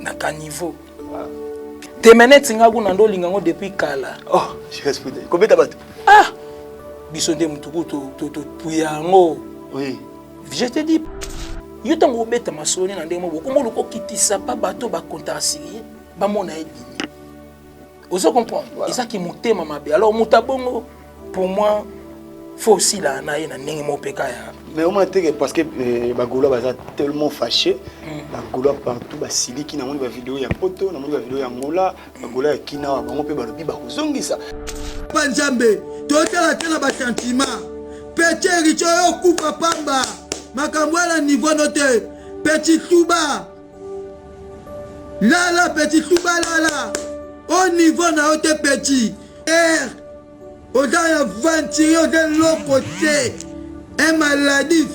na caniveau demenete nga kuna ndo olinga yango depuis kala oh, kobeta bato ah biso nde motuku topuya yango je te dis yo ntango obeta masolo nde na ndenge moko okoma oluka okitisa pa bato bakontakasili ye bamona ye ozo comprendre voilà. eza kimotema mabe alors moto abongo pour moi faut aussi la na ye na ndenge moko mpe kaya mais omona teke parce que eh, bagolois baza tellement fâché mm. bagolois partout basiliki namoni bavideo ya poto namoni bavideo ya ngola bagolois ya kinawa bango mpe balobi bakozongisa pa nzambe totala te na basentima peti erice oyo okufa pamba makambo ya na nivo no te peti tuba Lala petit tuba lala au niveau na yo te petit er oza un aventurier oza eloko te un maladif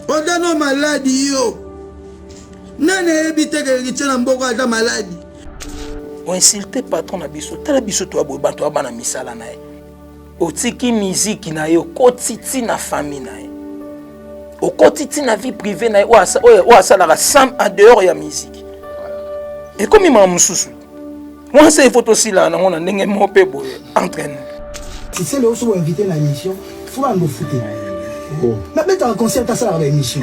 oza no maladi yo nani ayebi te keritie na mboko aza maladi oinsulte patron na biso tala biso toya boye bato ya bana misala na ye otiki miziki na ye okoti ti na famille na ye okoti ti na vie privé na ye oyo asalaka sam en dehors ya miziki ekomi mama mosusu mwasi ifo tosilana nango na ndenge moko mpe boye entre nous tisele oso boinvite na émission fo bando fute nabetaka concert asalaka ba émission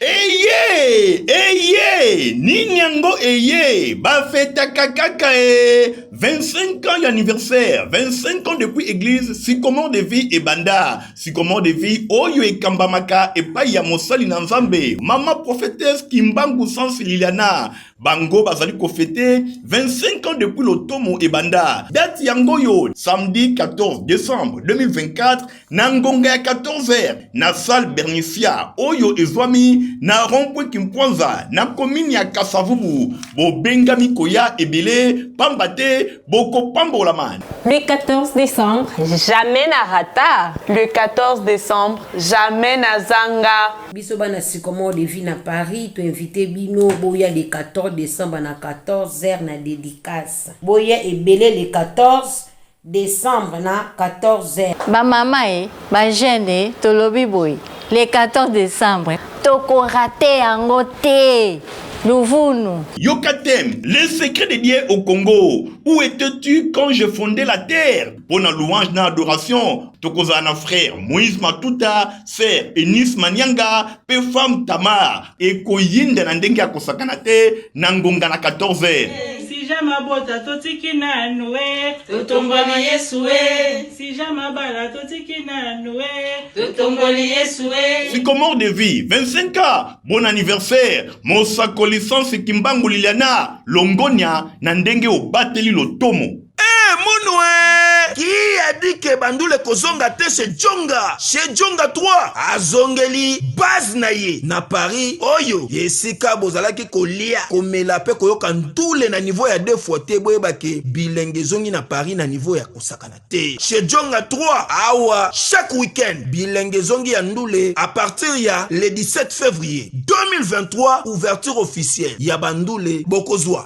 Eyee eyee nini yango eyee bafetaka kaka ee 25 ans y'anniversaire 25 ans depuis église sycomore de vie ebanda sycomore de vie oyo ekambamaka epai ya mosali na nzambe mama prophétesse kimbangu sans liliana bango bazali kofete 25 ans depuis lotomo ebanda date yango oyo samedi 14 décembre 2024 na ngonga ya 14h na salle bernifia oyo ezwami na rompwe kimpwanza na komini ya kasavubu bobengami koya ebele pamba te bokopambolama le 14 décembre jamais na rata le 14 décembre jamais na zanga biso bana sycomore de vie na paris toinvite bino boya le 14 décembre na 14h na dédicace boya ebele le 14 decembre na 14 heures. Ba mama e, ba jeune e, tolobi boye le 14 decembre toko rate yango te. Luvunu. Yoka thème, le secret de Dieu au Congo. Où étais-tu quand je fondais la terre? Pona louange na adoration, tokozala na frère Moïse Matuta, sœur Eunice Manianga, pe femme Tamar. ekoyinda na ndenge ya kosakana te na ngonga na 14 heures sija mabota totiki nanu e totomboli yesu e sija mabala totiki nanu e totomboli yesu e sycomore de vie 25 ans bon anniversaire mosakoli sansi kimbangu liliana longonia na ndenge obateli lotomo Eh, Munwe! Qui a dit que Bandule kozonga te chez Djonga? Chez Djonga 3 azongeli base na ye na Paris oyo esika bozalaki kolia komela pe koyoka ntule na niveau ya deux fois te boyeba ke bilenge ezongi na Paris na niveau ya kosakana te. Chez Djonga 3 awa chaque week-end bilenge ezongi ya ndule à partir ya le 17 février 2023 ouverture officielle ya Bandule bokozwa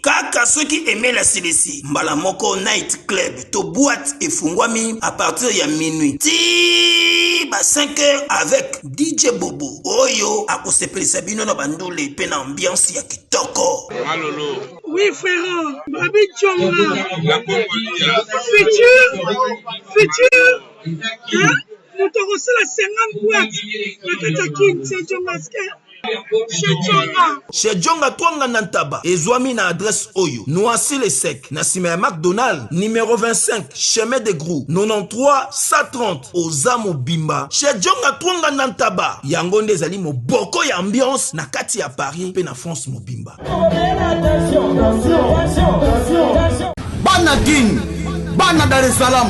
Kaka soki email asilisi, mbala moko night club to boite efungwami a partir ya minuit tii ba 5 heures avec DJ Bobo oyo akosepelisa bino na bandule mpe na ambiance ya kitoko. Malolo. Oui frère, Babi Chonga. La Congolia. Futur, futur. Hein? Moto akosala 50 boîtes na kati ya Kin, c'est Chonga Skin. Chez Djonga Twanga na Ntaba ezwami na adresse oyo Noisy le sec na sima ya McDonald numero 25 chemin de Grou 93 130 oza mobimba chez Djonga Twanga na Ntaba yango nde ezali moboko ya ambiance na kati ya Paris pe na France mobimba. Bana Kin, bana Dar es Salaam,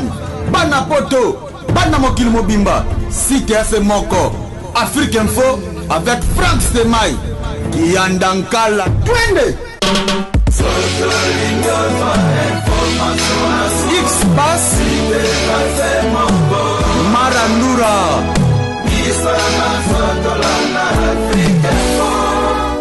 bana Poto, bana mokili mobimba, site efe moko, Afrique Info avec Frank Stemay, Kianda Nkala, twende! X-Bass, Marandura,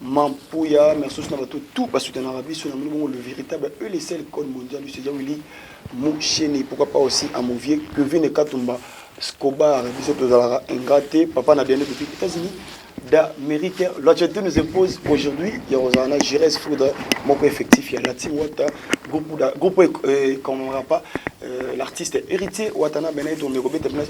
Mampuya, merci na bato tout ba soutenaka biso na bongo le véritable et le seul code mondial c'est Willy Moucheni pourquoi pas aussi à mon vieux Kevin Katumba Scobar biso tozalaka ingrate papa na bien depuis États-Unis d'Amérique. L'Argentine nous impose aujourd'hui, il y a Rosana Gires Foudre, mon effectif, il y a Lati Wata, groupe, groupe euh, qu'on n'aura pas, euh, l'artiste héritier Watana Benet, on est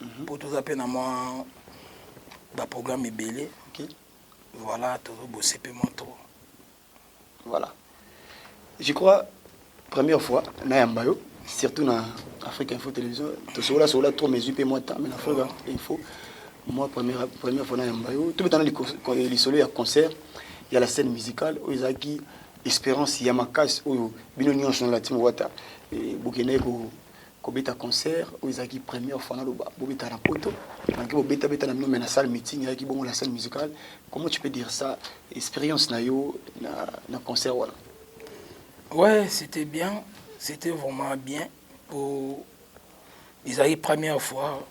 mhm. mpo toza mpe na mwa baprogramme ebele voilà tozobose mpe mwa trop voilà je crois première fois nayamba yo surtout na afrique info télévision tosokola sokola trop mesure mpe mwa temps mais na afrique info moi première, première fois nayamba yo tobetana lisolo ya concert ya la scène musicale oyo ezalaki espérance ya makasi oyo bino nyonso na latimo wata eh, bokendaki kobeta concert oyo ezalaki première fois naloba bobeta na poto malgré bobetabeta na bino mais na salle meeting ayaki bongo la scène musicale comment tu peux dire ça expérience na yo na, na concert wana ouais c'était bien c'était vraiment bien po ezalaki première fois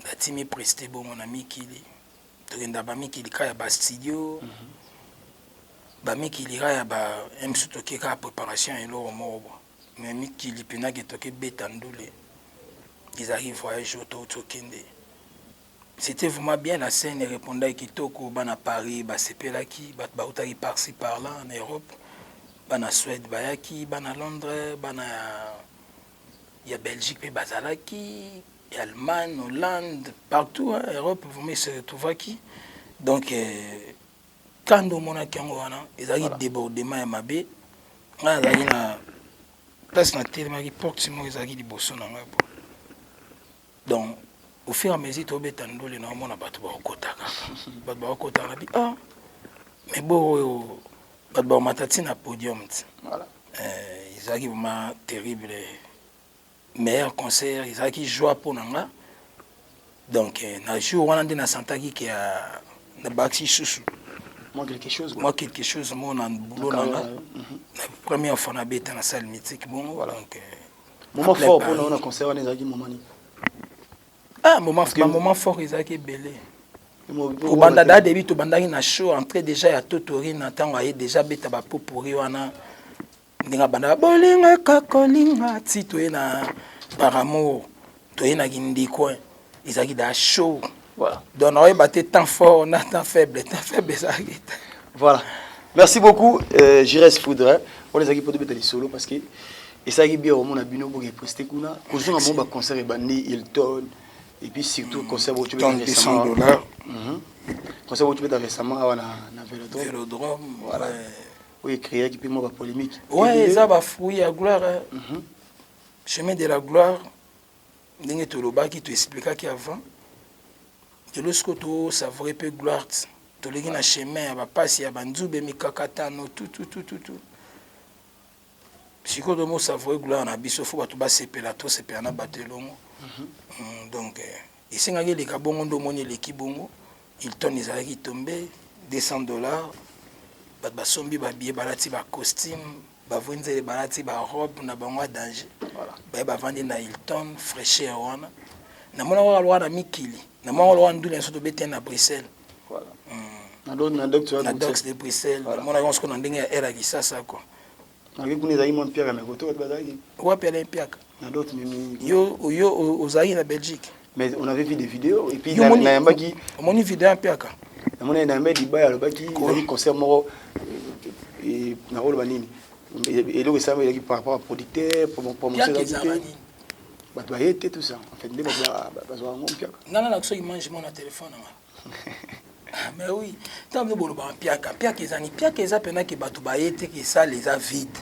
natimi preste bongo na mikili tokenda bamikili ka ya bastudio mm -hmm. bamikili ka ya ba msu toke kaka préparation eloko moko Mais mikili pena ke toke beta ndule ezalaki voyage oyo touti okende c'etait vraiment bien na scène erepondaki kitoko bana Paris basepelaki bato bautaki par ci par là na Europe bana Suède bayaki bana Londres bana ya, ya Belgique mpe bazalaki ya Allemagne Hollande partout hein, Europe vraiment se retrouvaki donc euh, Kanda omonaki yango wana ezalaki voilà. débordement ya mabe ngai azalaki na place na telemaki porte moko ezalaki liboso na ngai po donc au fur et à mesure tobeta ndule na omona bato bakokotaka bato bakokotaka na bi ah mais bo oyo bato bakomata ntina podium ti voilà. eh, ezalaki vraiment terrible meilleur concert ezalaki joie mpo na nga donc euh, na jour wana nde nasantaki ke nabakisi lisusu mwa quelque chose mwa quelque chose mo na boulot na nga mhm. na première fois nabeta na salle mythique bongo voilà donc euh, moment fort mpo na yo na concert wana ezalaki moment nini ah moment ba moment fort ezalaki ebele kobanda da debi tobandaki na show entrée déjà ya totori na ntango aye déjà beta bapopori wana ndenge abanda bolingaka kolinga ti toye na par amour toye na kindikoin ezalaki da show voilà. donc nakoyeba te temps fort na temps faible temps faible ezalaki te voilà merci beaucoup euh, jires foudre wana ezalaki mpo tobeta lisolo parce que esalaki bien omona bino boke preste kuna kozonga bango baconcert ebandi hilton et puis surtout concert boco concert boco beta récemment awa na vélodrome voilà oyo ecreaki mpe mwa bapolémique oyo eza bafruit ya gloire eh. mm -hmm. chemin de la gloire ndenge tolobaki toexplikaki avant lelo sikoyo tosavoure mpe gloire toleki na chemin ya bapasi ya banzube mikakatano tututututu sikoyo tomosavoure gloire na biso fo bato basepela tosepela na bato elongo mhm. mm, donc eh, Esengaki eleka bongo nde omoni eleki bongo Hilton ezalaki tombe 200 dollars bato basombi ba billets balati ba costumes bavwenzele balati ba robes na bango ya danger voilà baye bavandi na Hilton fraîcheur wana namonaka kaka lokola na mikili namonaka lokola ndule nso tobetani na Bruxelles voilà mm. na dox de Bruxelles voilà. namonaka yango soko na ndenge ya air ya kisasa quoi Nayoki kuna ezalaki mwa mpiaka na koto bato bazalaki. Wapi Alain Mpiaka? Na dot mimi. Yo yo ozalaki na Belgique. Mais on avait vu des vidéos et puis na yambaki. Omoni vidéo Mpiaka? Na moni na yambaki libaya alobaki ezali concert moko euh, et na koloba nini? Eloko esalama ezalaki par rapport à producteur, promotion ezalaki te. Bato baye te tout ça. En fait nde bato bazwa yango Mpiaka. Ngana na soki mange mwana telefone na ngai. Ah, mais oui ntango nde bolobaka mpiaka mpiaka eza nini mpiaka eza mpena ke bato baye te ke sale eza vide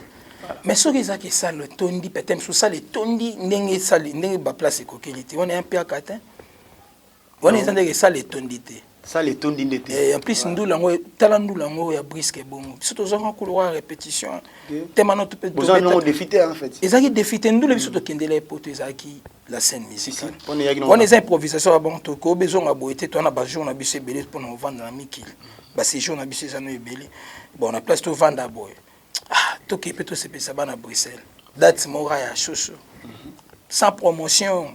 mais soki eza ke sale etondi pete mosusu sale etondi ndenge sale ndenge baplace ekokeli te wana ya mpiaka te wana eza ndenge sale etondi te sale etondi nde te eh, en plus ndula yango tala ndula yango ya briske ebongo biso tozwaka koloka répétition te mano ezalaki defite ndula biso tokendela epoto ezalaki la scène musicale wana eza improvisation ya bango tokoyoba ezonga boye te towana bajour na biso ebele mpona kovanda na mikili baséjour na biso eza no ebele bon na place tovanda boye ah, tokei mpe tosepelisa bana bruxelles date mora ya shosho mhm. sans promotion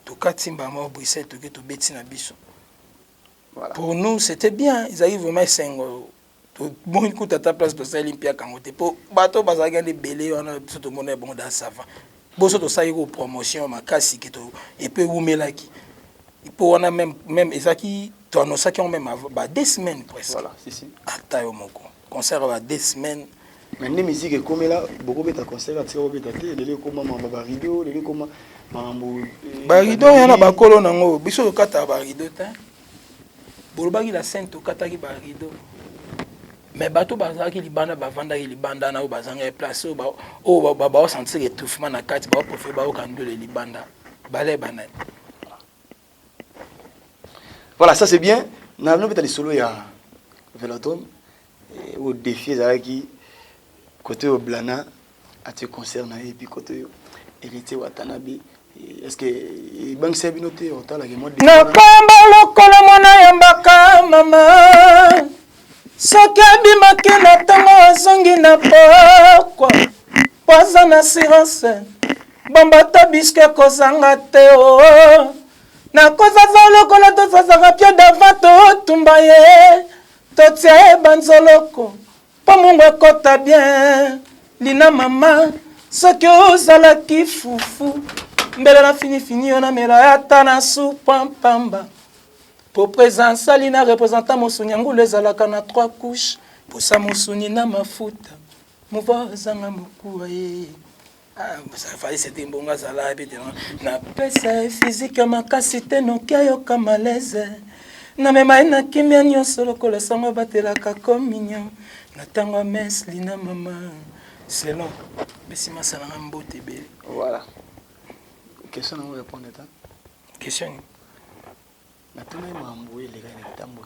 tokati mbama bruxelles toke tobeti na biso pour nous c'était bien ezalaki vraiment esengo tomoni kuta ata place tosaleli mpiaka yango te mpo bato bazalaki ande ebele wana biso tomona ya bongo da sava boso tosalaki ko promotion makasi ke epe ewumelaki mpo wana meme meme ezalaki toanosaki yango meme ba deux semaines presque voilà, si, si. ata yo moko concert ya ba deux semaines mais nde musique ekomela bokobeta concert atika kobeta te lelo ekoma mambo ba rideau lelo ekoma mambo eh, ba rideau yana bakolo nango biso tokataka ba rideau te bolobaki la scène tokataki ba rideau mais bato bazalaki libanda bavandaki libanda na oyo bazangaki place oyo baosentire etouffement na kati baoprofe bayoka ndule libanda bale banani voilà ça c'est bien na nobeta lisolo ya velodrome eh, oyo défi ezalaki kote oyo blana atie concert na ye epi kote yo héritier watanabe est ce que ebangisa bino te otala ke nakamba lokola mwana ya mbaka mama soki abimaki na ntango azongi na pokwa mpo aza na assurance bomba to bisko ekozanga te o oh. nakozaza lokola tozazaka pio dava totumba ye totia ye banzoloko Po mungu ekota bien Lina mama soki ozalaki fufu mbele na fini fini yo na mela ya ta na soupa pamba Po presence ya Lina representant mosuni ya ngulu ezalaka na trois couches posa mosuni na mafuta mouvoir ezanga mokuwa ye Ah, safari sete mbongo azala yebi te na pesa ye fizike ya makasi te noki ayoka malaise namema ye na kimia nyonso lokola sango abatelaka communion na ntango ya mese lina mama selon besi masalanga mbote ebele voilà question nango répondre ta question nini natuna ye mambo eleka na ntambo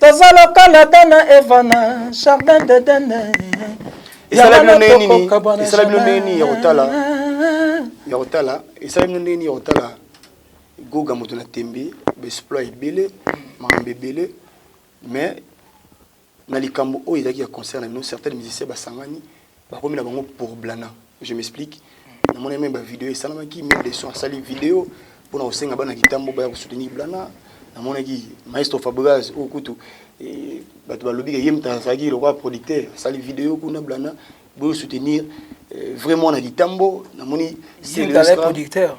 Toza lokola Adam na Eva na jardin d'Eden. Esala bino ndenge nini? Esala bino ndenge nini ya kotala? Ya kotala, esala bino ndenge nini ya kotala? Goga moto na tembe, b'exploit ebele, makambo ebele, mais na likambo oyo ezalaki ya concert na bino, certains musiciens basangani bakomi na bango pour blana je m'explique namoni meme bavideo esalamaki meme leson asali video mpona kosenga bana kitambo baya kosoutenir blana namonaki maestro fabregas oyo kutu eh, bato balobi ke ye moto azalaki lokola producteur asali video kuna blana boyo soutenir eh, vrai mwana kitambo namoni producteur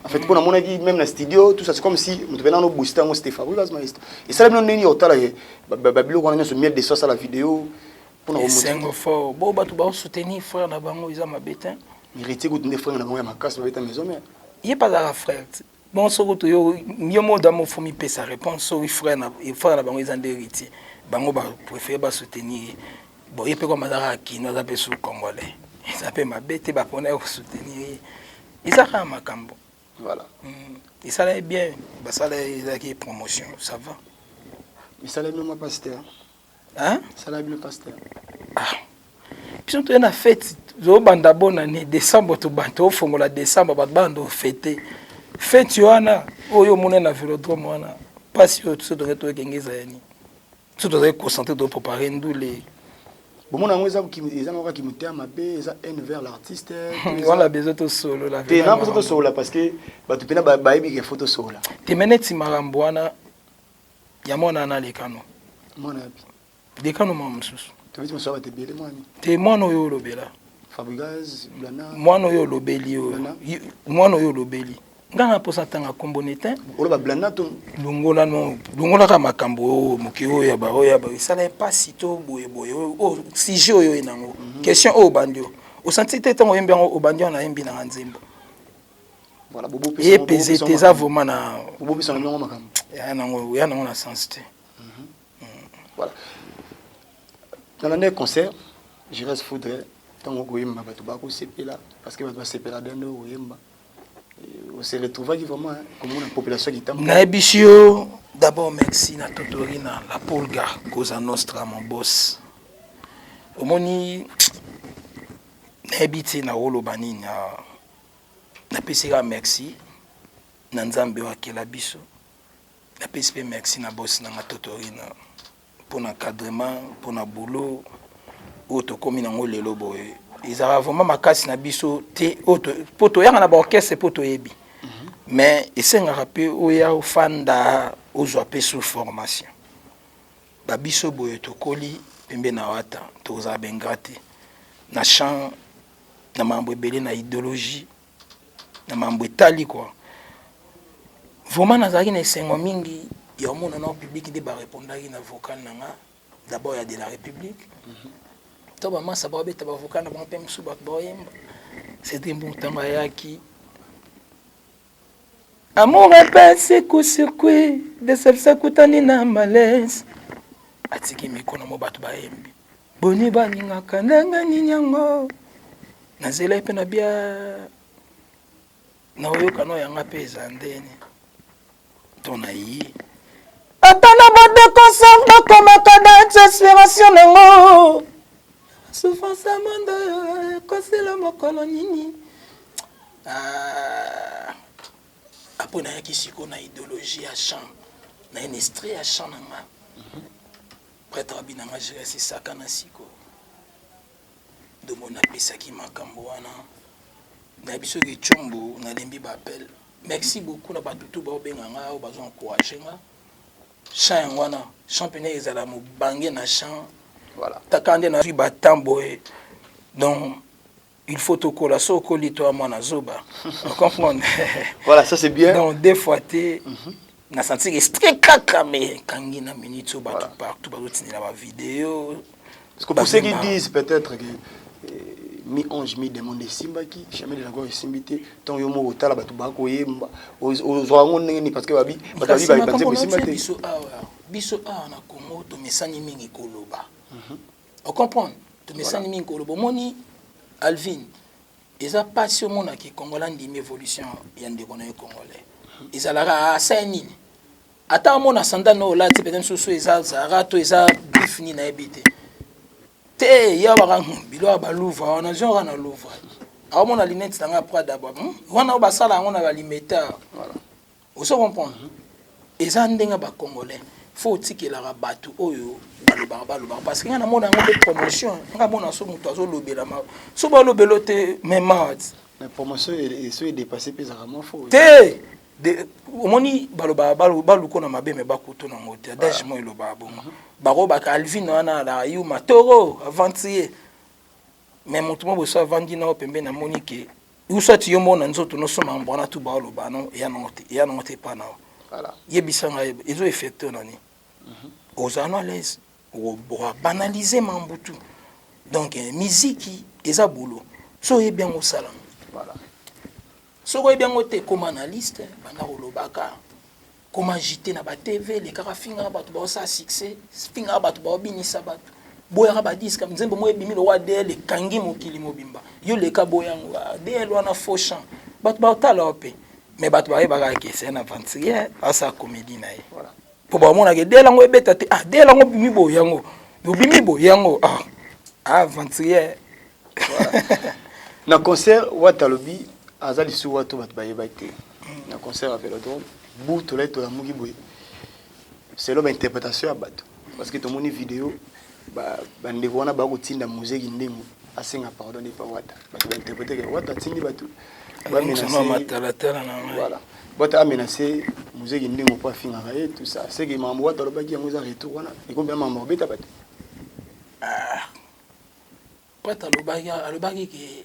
en fait mpo namonaki même na studio tout ça c'est comme si moto mpe nano booste yango c'était fabregas maestro esala bino ndenge ya kotala babiloko wana nyonso miel de so asala video esengo fort bo bato bao soutenir frère na bango eza mabe te héritier kutu nde frère na bango ya makasi babeta maison mère ye mpe azalaka frère te bon soko toyo yo mo oda mofo mipesa réponse soki frère na frère na bango eza nde héritier bango ba préfère ba soutenir ye bon ye mpe koma aza kaka kino aza mpe su congolais eza mpe mabe te bapona ye kosoutenir ye eza kaka makambo voilà mm. esala ye bien basala ye ezalaki promotion ça va esala ye mema pasteur Hein? Sala bino pasteur. Ah. Biso toye na fete tozobanda bonne année décembre tobanda tofongola décembre bato banda ofete fete wana oyo omona na vélodrome wana mpasi oyo biso tozali toyekenge ezalani biso tozali concentre toprépare ndule bomona yango eza eza moko kimotema mabe eza haine vers l'artiste wana besoin tosolola te na mposa tosolola parce que bato mpena bayebi ke fo tosolola te me neti makambo wana ya mwana wana alekano mwana yapi lekano mwa mosusu te mwana oyo olobela mwana oyo olobeli oyo mwana oyo olobeli nga na posa tanga kombo ne te longola no longolaka makambo oyo moke oyo ya baoyo ya esala mpasi to boyeboye oyo sujet oyo oye nango mhm. question oyo obandi oyo osanti te ntango oyembi yango obandi yango nayembi nanga nzembo Voilà, bobo pesa ye peze te eza vraiment na bobo pesa ndongo makambo ya nango ya nango na sens te mhm. mm. voilà dans l'année concert je reste foudre ntango okoyemba bato bakosepela parce que bato basepela bien nde okoyemba on se retrouvaki vraiment hein, komona population kitambo nayebisi yo d'abord merci na totori na la polga cosa nostra mon boss omoni nayebi te na oloba nini ah. Napesi kaka merci na Nzambe oyo akela biso. Napesi pe merci na boss na nga Totorina pona encadrement, pona boulot oyo tokomi na yango lelo boye. Ezalaka vraiment makasi na biso te oyo to, po toyaka na ba orchestre po toyebi. Mais esengaka pe oya ofanda, ozwa pe sous formation. Ba biso boye tokoli pembeni na Wata, tokozala ba ingrats te. Na chant na mambo ebele na ideologie na mambo etali quoi vraiment nazalaki na esengo mingi ya omona na public nde barepondaki na vocal na nga d'abord ya de la république mhm. to bamasa babeta bavocal na bango mpe mosusu bato baoyemba cedri mbu ntango ayaki Amour epesi coup sur coup deception ekutani na malaise atiki micro na mwa bato bayembi boni balingaka ndenge nini yango nazela mpe na bia na oyokana yanga mpe eza ndeni to na ye ata na badekonsan bakomaka na inspiration nango souffrance ya mondo ekosila mokolo nini Ah, après nayaki siko na idéologie ya chant na ye na estrie ya chant na nga prêtre abi na nga jeresi saka na siko ndombo napesaki makambo wana na biso kecombo nalembi baapel merci beaucoup na bato tu baobenga nga oyo bazo encourage nga chant yango wana chant mpena ezala mobange na chant voilà. taka nde nazwi batemp boye donc il faut tokola so okoli toa mwana zoba comprendre voilà ça c'est bien donc deux fois te mm -hmm. na senti que très kaka mais kangi na minute so bato voilà. partout bazotindela ba video parce que pour ceux qui disent peut-être que euh, mi ange mi demande esimbaki jamais de la gloire esimbi te ntango yo moko otala bato bakoyemba ozwa yango ndenge nini parce que babi bato babi babi banzembo esimba te biso awa na congo tomesani mingi koloba mhm. o comprendre tomesani mingi kolo bomoni alvin eza mpasi omona ke congolais andimi évolution ya ndeko na ye congolais ezalaka asai nini ata amona sandale na olati mpenza mosusu eza zara to eza griffe nini nayebi te te ya baka hmm, bilo ya baluva wana zwi kaka na luva aomona linete na ngai prada ba hmm, wana oyo basala yango na balimeta ozo comprendre eza ndenge ba congolais fo otikelaka bato oyo balobaka balobaka parce que ngai namona yango mpe promotion ngai mona so moto azolobelama so balobelo te memad te omoni balobaka baluko na mabe me bakutu nango te adage ah. mo elobaka bongo mhm. bakobaka alvine wana alaka yuma toro avantiye me moto mo boso avandi nao pembe namoni ke ou soit yo moko na nzoto no soma yango wana tout bao loba no ya nango te ya nango te epa na yo Voilà. yebisa ngai ezo effecte yo na nini ozala no à l'aise obanalise mambo tout donc eh, miziki eza bolo so oyebi yango osala yango Voilà. soki oyebi yango te ekoma na liste banda kolobaka ko m'agiter na ba TV lekaka fingaka bato baosala succès fingaka bato baobinisa bato boyaka ba disque nzembo moko ebimi lokola adl ekangi mokili mobimba yo leka boya yango adl wana faux chant bato baotala yo mpe mais bato bayebaka ke c'est un aventurier asala comédie na ye mpo bamonaka adl yango ebeta te adl yango obimi boye yango obimi boye yango ah, ah aventurier na concert wata alobi aza lisuwa to bato bayebaki te na concert ya velodrome bu tolai tolamuki boye selon bainterprétation ya bato parce que tomoni video bandeko wana baya kotinda mozeki ndenge asenga pardon epa wata bato bainterprete ke wata atindi bato bamenacevoila wata amenace mozeki ndenge mpo afingaka ye tout ça seke makambo wata alobaki yango eza retour wana ekomi bia makambo akobeta bato ah, wata alobaki ke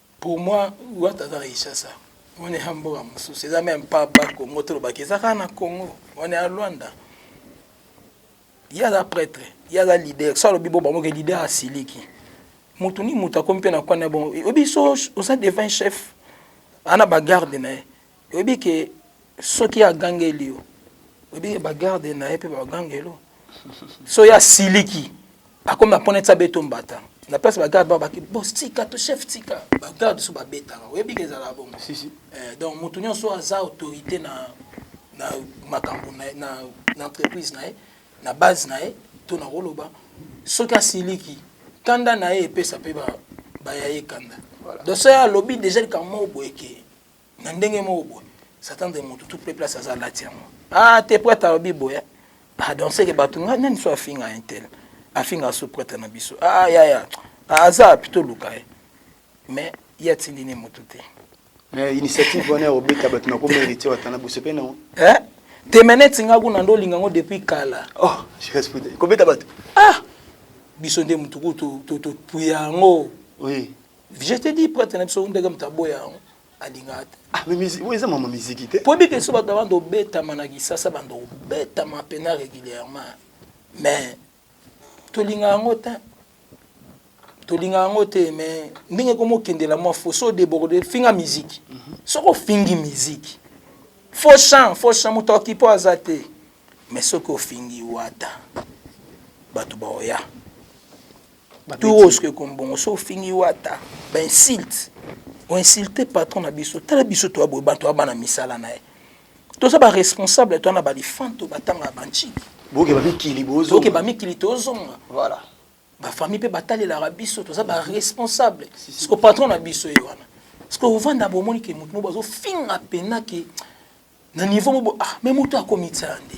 Pour moi wata aza na Kinshasa wana eza mboka mosusu eza meme pas ba Congo tolobaki eza kaka na Congo wana ya Luanda ye aza prêtre ye aza leader so alobi bo bamoke leader asiliki motu ni motu akomi mpe na kwana bongo oyebi so oza devant chef ana bagarde na ye oyebi ke Soki agangeli yo, oyebi ye ba garde na ye pe ba gangelo. So ya siliki, akomi na pona tsa beto mbata. Na place ba garde ba baki boss tika to chef tika. Ba garde so ba betaka. Oyebi ke ezalaka bongo. Si si. Eh donc mutu nionso aza autorite na na makambu na na na entreprise na ye, na base na ye to na koloba soki asiliki kanda na ye epesa pe ba ba ya ye kanda. Voilà. Donc so ya lobi deja likambo moko boye ke na ndenge moko boye satan de motu tout peuple aza alati yango ah te prêtre alobi boye ah donc seke bato ngai nani so afinga intel afinga so prêtre na biso ah yaya ah, aza api toluka ye mais ye atindi ne motu te eh, initiative wana ya kobeta bato na komerite watana bosepe nango eh? te me neti ngai kuna nde olinga yango depuis kala oh, kobeta bato ah biso nde motu ku topuya yango oui. Je te dis prêtre na biso ndenge moto aboya yango alingaka te. Ah mais musique, oui, ça maman musique te. Pour que soit devant de beta manaki ça ça bande beta ma pena régulièrement. Mais to linga yango te. To linga yango te mais ndenge komo kendela moi faut so déborder finga musique. Mhm. Soko fingi musique. Faux chant, faux chant moto okipo azate. Mais soki ofingi wata batu baoya tour oyo soki ekomi bongo soki ofingi wata ba insulte oinsulte patron na biso tala biso toya boye bato ya bana misala na ye toza baresponsable toya na balifanto batanga ya bancili bokeba mikili bokeba mikili tozonga voilà bafamille mpe batalelaka biso toza baresponsable siko patron na biso ye wana siko ovanda bomoni ke motu mo bazofinga mpena ke na niveau mobo ah mais moto akomitsa nde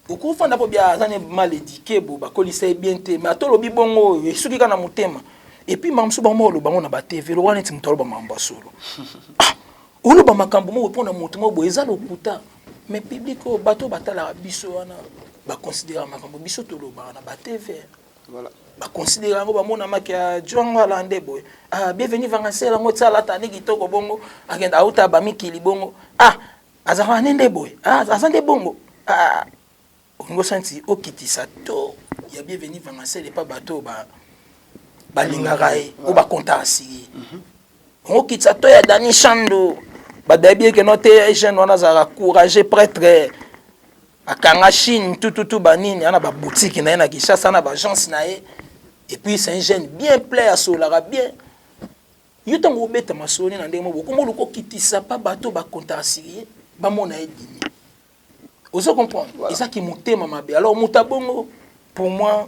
okofanda mpo bia aza ne mal édiqué bo bakolisa ye bien te mais ata olobi bongo oyo esuki kaka na motema epuis makambo mosusu bango oloba yango na batv lokola neti moto aloba makambo ya solo ah, oloba makambo moko mpo na moto moko boye eza lokuta mais public oyo bato oyo batalaka biso wana baconsidera makambo biso tolobaka na batv Voilà. Ba considère yango ba mona maki ya Djongo alande boye. Ah bienvenue vangancela yango tsala tani kitoko bongo akenda auta ba mikili bongo. Ah azaka nende boye. Ah azande bongo. Ah olingo santi okitisa to ya bienvenue vangancela epa bato ba balingaka ye o bakontaka sii mhm. okitisa to ya dani shando badayebi eke no te jeune wana azalaka courage prêtre akanga chine tututu banini ana babutiki na ye na kinshasa na baagence na ye epuis c'est un jeune bien plein asololaka bien yo ntango obeta masoni na ndenge moko okoma oluka okitisa mpa bato bakontarasilie bamona ye dini ozo comprendre eza kimotema mabe alors moto abongo pour moi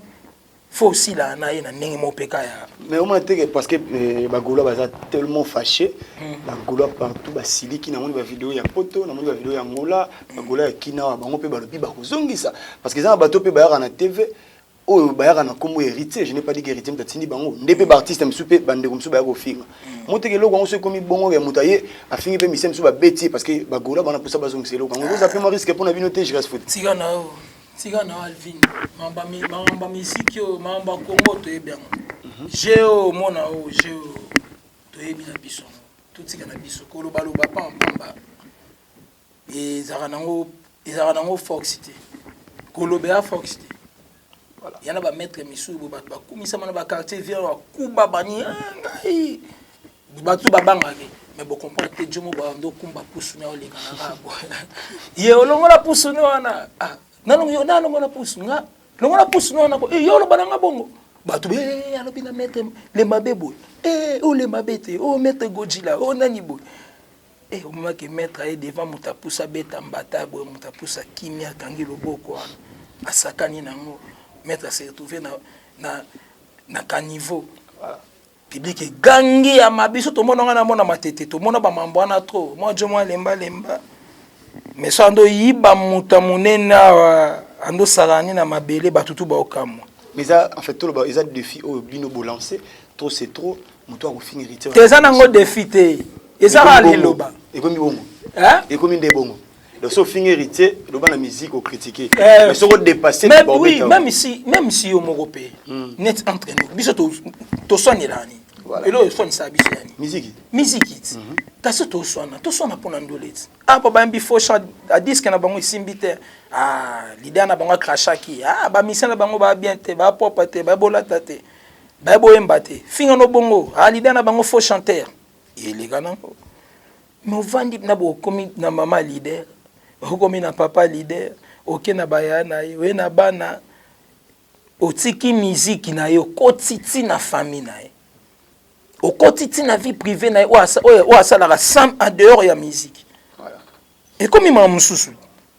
faut aussi la na ye na ndenge mo peka ya mais on m'a dit que parce que eh, ba gaulois baza tellement fâché hmm. ba gaulois partout ba siliki na moni ba vidéo ya poto na moni ba vidéo ya ngola ba gaulois ya kinawa bango pe balobi ba kozongisa parce que za bato pe bayaka na TV oyo bayaka na kombo héritier je n'ai pas dit que héritier mtatindi bango nde pe ba artiste misu pe bandeko misu bayaka kofinga hmm. moteke eloko yango soki ekomi bongo ya moto aye afingi pe mise misu babeti parce que ba gaulois bana posa bazongisa eloko yango oza pe mwa risque mpo na bino te je reste foot tika na alvin makambo ya miziki oyo makambo ya kongo toyebi yango geo omona oyo geo toyebi na biso totika na biso kolobaloba pampamba ezalaka nango ezalaka nango force te koloba ya force te ya na bamaître misusu bo bato bakumisama na baquartier vier bakuba bani ngai bato babangaki me bocomprendre te jomo bando kumba pusu na oleka na ngambo ye olongola pusu ni wana ah, nalongola pusu nga longola pusu ni wana ko eh, yo oloba na nga bongo bato be eh, alobi na mete le mabe boye e o le mabe te o oh, mete gojila o oh, nani boye e omemaki maître aye devant moto apusa abeta mbata boye moto apusa kimia akangi loboko wana asakani nango maître ase retrouve na, na, na caniveau voilà. Public egangi ya ma biso tomona nga na mona matete tomona ba mambo wana trop mwa jo mwa lemba lemba mais so ando yiba muta munene awa ando salani na mabele bato tu baokamwa mais eza en fait toloba eza défi oyo bino bolancer trop c'est trop moto akofinga héritier te eza nango défi te eza kaka liloba ekomi bongo ekomi nde bongo Donc si ofingi héritier, loba na musique au critiquer. Euh, mais soko dépasser mais oui, hein. même si même si yo moko pe hmm. net entre nous, biso to to soigner là ni. Voilà. Et là, soigne ça biso yani. Musique. Musique. Mhm. Kasi to soigner, to soigner pour ndolet. Ah ba bambi faux chat à disque na bango isimbi te. Ah, l'idée na bango cracha ki. Ah, ba mission na bango ba bien te, ba propre te, ba bolata te. Ba boyemba te. Finga no bongo. Ah, l'idée na bango faux chanteur. Il est gagnant. Novandi na bokomi na mama leader, okomi na papa leader, oke na baya na ye, oye na bana, otiki miziki na ye, okoti ti na famille na ye, okoti ti na vie privée na ye oyo asalaka sans en dehors ya miziki, ekomi mawa mosusu.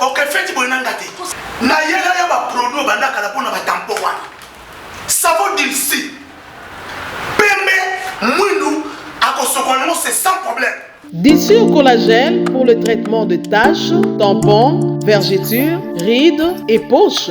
oke feti boye na nga te nayela ya baproduit obanda kala mpo na batampo wana savo dilsi pembe mwindu akosokola yango se sans problème Dissure collagène pour le traitement de taches, tampons, vergetures, rides et poches.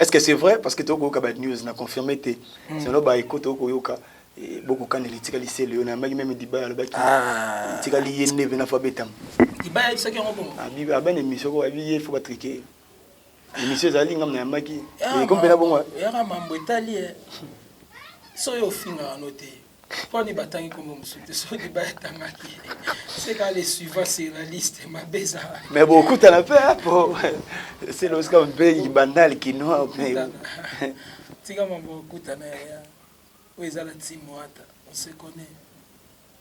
Est-ce que c'est vrai parce que tu as ba news na confirmé te. Hmm. Sinon ba écoute okoyoka eh, boko kanela itika lisele yo na maki meme diba alobaki ah. itika liye neve na fa betam. Diba ya bisaki yango bongo. Abi ah, abana ah, émission ko abi ye faut ba triquer. Émission ezali ngam na maki. Ekompela bongo. Yaka mambo etali. Eh. So yo finga anote. Pourquoi ni batangi kombo mosusu te soki bayatangaki c'est quand les suivants c'est la liste mabe ezala mais bokutana mpe apo c'est losika mpe bandal kinois mpe tika mambo okutana yaya oyo eza na ntimo ata on se connaît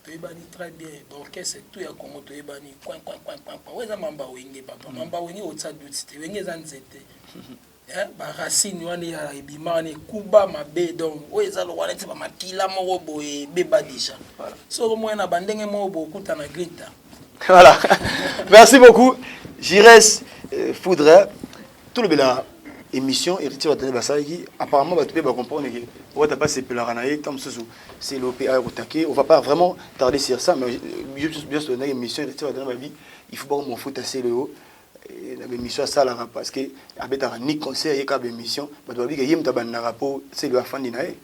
toyebani très bien baorchestre tout ya congo toyebani oyo eza mamba wenge papa mamba wenge otya duti te wenge eza nzete Eh, ba racine wana ya ebima wana ekuba mabe donc oyo eza lokola neti ba makila moko boye ebeba deja Voilà. so okomona na bandenge moko bokuta na grinta voilà merci beaucoup jires euh, foudre hein. tolobela émission héritier batene basalaki apparemment bato mpe bacomprendre ke wata mpe asepelaka na ye ntango mosusu selo mpe aya kotake on va pas vraiment tarder sur ça mais euh, biso biso tolendaki émission héritier batene babi il faut bakomofuta selo yo Eh, na bemission asalaka parce que abetaka ni concert ye kaka bemission bato babi ke ye moto abandaka mpo selo afandi na ye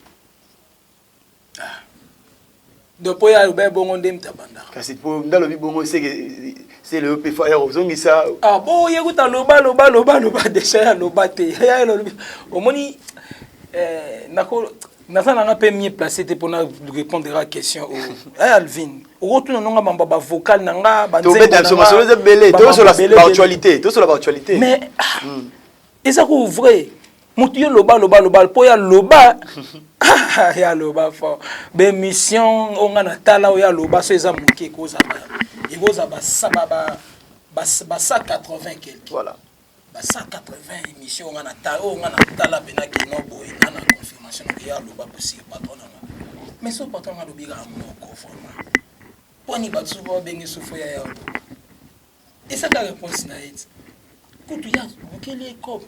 ah. donc mpo ye aloba ye bongo nde moto abandaka kasi mpo nde alobi bongo seke selo yo mpe faya kozongisa ah bo ye kuta loba loba loba loba deja ya loba te ya alobi omoni eh, nako naza nanga mpe mie place te mpona répondre a question oyo oh. eh, alvin okotuna nonga mambo ya bavocal na nga banzobeta biso masolo eza ebele tosola baactualité tosola baactualité mais ah, hmm. eza ko vrai motu yo loba loba loba mpo ya loba ah, ya loba fort bemission oyo nga natala oyo ya loba so eza moke ekozala ekozala basa 80 quelque voilà ba 180 emission nga na tala oyo nga na tala pena ke no boye nga na confirmation na ya loba ko sur patron na nga mais so patron nga lobi ka moko forma poni ba tsuba ba bengi sufo ya ya esa ka réponse na it kutu ya bukeli e cop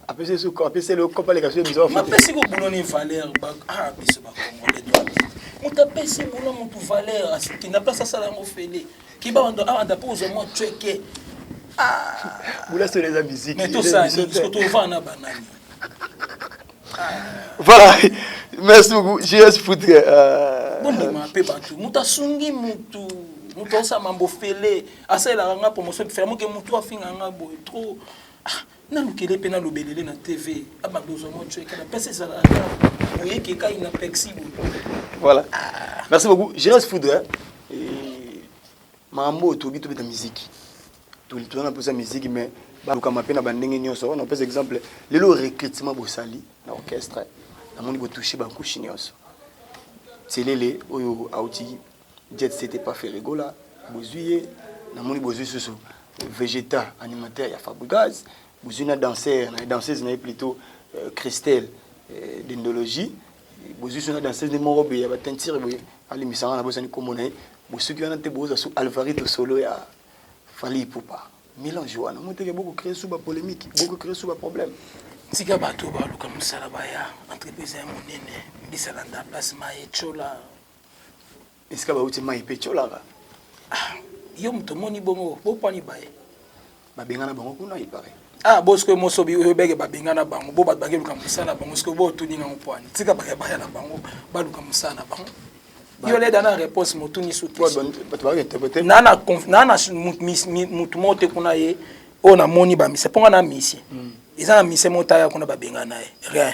apesi su apesi le cop ale ka su emission ma pesi ko boulot ni valeur ba ah biso ba congolais doit mutu apesi boulot mutu valeur akenda place asala yango fele Kiba wanda awanda po zo mo chweke. Ah. Bula solo eza musique. Mais tout ça, ce que tu vas na banani. Voilà. Merci beaucoup. JS Foutre. Euh... Bon, mais ma pe bantu. Muta sungi mutu. Muta osa mambo fele. Asa la nga promotion. Fermo que mutu afinga nga boy. Trop. Ah. nalukele mpe nalobelele na tv abanda ozwa mwa cueka na mpasi ezala ata oyeke ekai na pexi boye voilà ah. merci beaucoup gérance foudre eh, makambo oyo tokoki tobeta miziki toza na mposa miziki mais balukama mpe na bandenge nyonso na opesa exemple lelo recrutement bosali na orchestre namoni botouche bakushi nyonso selele oyo auti Jet set epa Ferre Gola bozui ye namoni bozui susu Vegeta animateur ya Fabrigaz bozui na danseur na danseuse na ye plutot euh, Christelle euh, Dendologie bozui susu na danseuse nde moko boye ya ba teinture boye alimbisa nga na bosani kombo na ye bosuki wana te boza su Alvarito solo ya Fally Ipupa mélange wana moteke boko créer su ba polémique boko créer su ba problème tika bato baluka mosala baya entreprise ya monene bisalanda place maye cola esika bauti mai mpe tiolaka ah, yo moto omoni bongo bopani baye babengana bango kuna ipare ah bo sikoyo mosobi oyo beke babengana bango bo bato bake luka mosala na bango sikoyo bootuni nango pwani tika bayabaya na bango baluka mosala na bango yo leda na réponse motuni suknana motu moko te kuna ye oyo namoni bamisa mpo nga na misie hmm. eza na misie motaya kuna babengana ye rien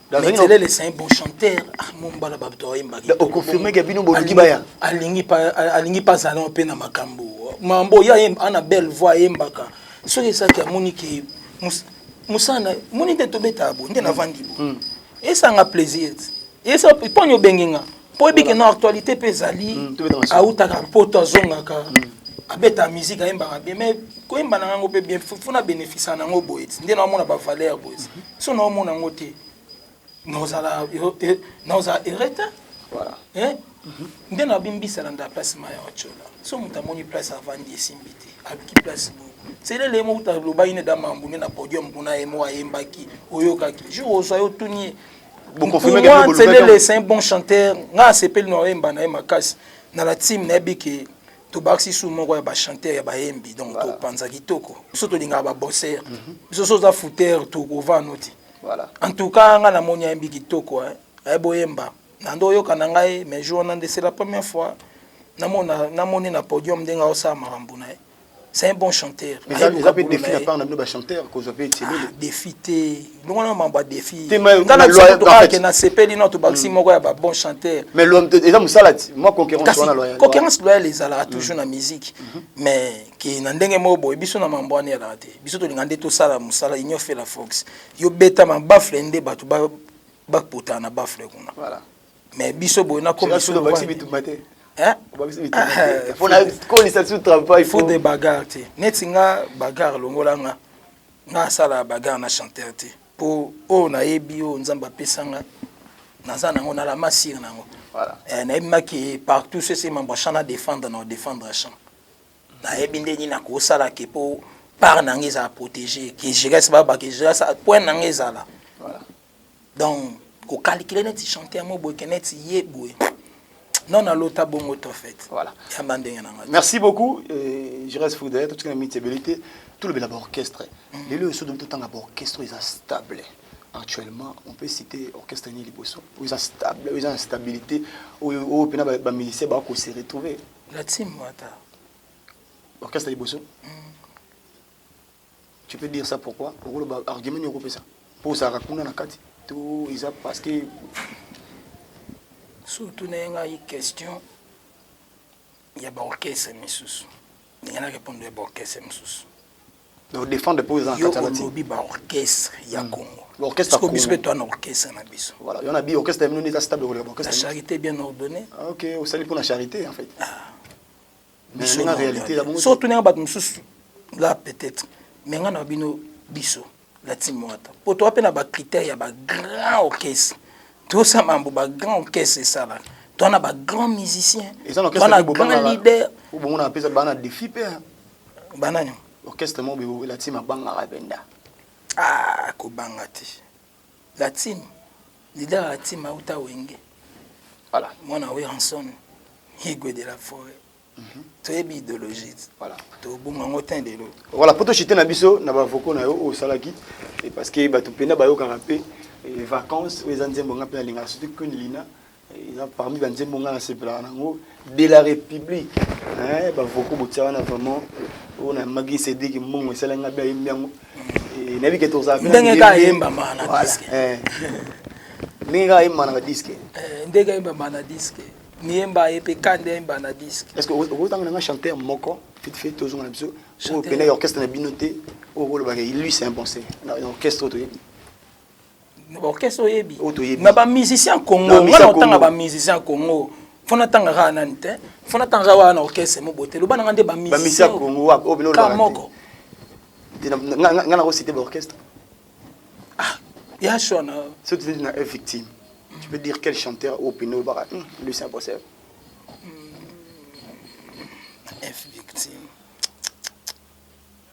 Mais Tselele c'est un bon chanteur. Ah mon bala babto oyemba. O confirmer que bino bolingi baya. Alingi pa alingi pa zalon pe na makambo. Mambo ya yemba ana belle voix yembaka. Soki esaki amoni ke musana moni nde tobeta bo nde navandi bo. Esanga plaisir. Esa poni obengi nga. mpo oyebi keno actualité mpe ezali awutaka mpoto azongaka abeta musique ayembaka bien mais koyemba na yango mpe bien fo na bénéficia na yango boye ti nde naomona bavaleur boye so naomona yango te naozala naozala ereta nde na bimbisala nda place maya ocola so moto amoni place avandi esimbi te aluki place boye selele ye moko uta alobaki ne da mambu nde na podium kuna ye moko ayembaki oyokaki jour ozwa yo tuni ye Pour moi, Tselele, c'est un bon chanteur. Nga asepeli na oyemba na ye makasi. Na la team na yebi ke tobakisi su moko ya ba chanteur ya bayembi donc voilà. topanza kitoko biso tolingaka babosser mm -hmm. biso so oza fouter tokova noti voilà. en tout cas nga namoni ayembi kitoko eh. aye boyemba na nde oyoka na ngai mais jour wana nde c'est la première fois namoni na podium ndenge aosala makambo na ye c'est un bon chanteur eza eza pe défi na part na bino ba chanteur ko zope tshilele défi te ndongo na mambo défi te mais na loyer to ake na sepeli na to baxi moko ya ba bon chanteur mais lo eza musala ti moi concurrence wana loyer concurrence loyer ezala toujours na musique mais ki na ndenge moko boye biso na mambo wana ya te biso to lingande to sala musala union fait la fox yo beta ma bafle nde bato ba ba potana bafle kuna voilà mais biso boye nakomi solo obakisi bitumba te obakisi bitumba te mpo na kolisa biso travail faut de bagarre te neti nga bagarre longola nga nga asala bagarre na chanteur te mpo oyo nayebi oyo nzambe apesa nga naza nango na la masire nango eh, nayebi maki partout sese mambo champ na défendre na défendre champ nayebi nde nini nakosala ke mpo part na nga ezala protégé ke jegas babake jegas point na nga ezala donc ko calculer neti chanteur mo boye ke neti ye boye non na lota bongo to fait voilà ya ba ndenge na ngai merci beaucoup euh, je reste fou derrière tout ce qui est mitabilité tout le bela orchestre mm. lelo esso donc tout tanga ba orchestre est stable actuellement on peut citer orchestre ni liboso ils ont stable ils ont stabilité au au pena ba musicien ba ko se retrouver la team wata orchestre liboso mm. Tu peux dire ça pourquoi okoloba argument nini okopesa mpo ozalaka kuna na kati to eza parce que surtout na ye ngai question ya baorchestre misusu ndenge na répondre ya baorchestre misusu odefendre mpo eza yo olobi baorchestre ya hmm. congo orchestre biso mpe toa na orchestre na biso voilà yo na bi orchestre ya bino nde eza stable koleka baorchestre la charité bien ordonnée ah, ok osali mpo na charité en fait ah. biso na realite ya bongo so tunenga bato mosusu la peut-être mais nga na bino biso la team wata po toa pe na ba critères ya ba grand orchestre tosa mambo ba grand orchestre esala toa na ba grand musicien toa na grand leader bongo na pesa bana défi pe hein. banani orchestre mo be la team abanga benda ah ko banga te La team, leader ya la team auta Wenge. Voilà. Mwana Werrason, Igwe de la Foret. toyebi idéologie tobonga yango te lelo voilà mpo tochite na biso na bavoko na yo oyo osalaki parce que bato mpena bayokaka mpe eh, vacances oyo eza nzembo nga mpe nalingaka surtout queen lina eza parmi banzembo ngai nasepelaka nango de la république bavoko botia wana vraiment oyo na magi sediki mbongo esala ngai mpe ayembi yango eh, nayebi ke tozalakandenge kaka ayembama na diske eh. ndenge kaka ayembama na diske eh, ndenge ayembama na diske miyemba ye mpe kande ayemba na diske est ce que okotanga nanga chanteur moko vite fait tozonga na biso oyo pena ya orchestre na bino te oyo kolobaka ilus impensé na orchestre oyo toyebi orchestre oyebi na ba musicien congo nga naotanga ba musicien congo fo natanga kaka nani te fo natanga kaka wana na orchestre mobote loba nanga nde ba musicien congo wapi oyo biloloka moko nga nakosite ba orchestre ah ya sho na so tu na victime tu peux dire quel chanteur au pino baka hmm, Lucien Bossel hmm, F victime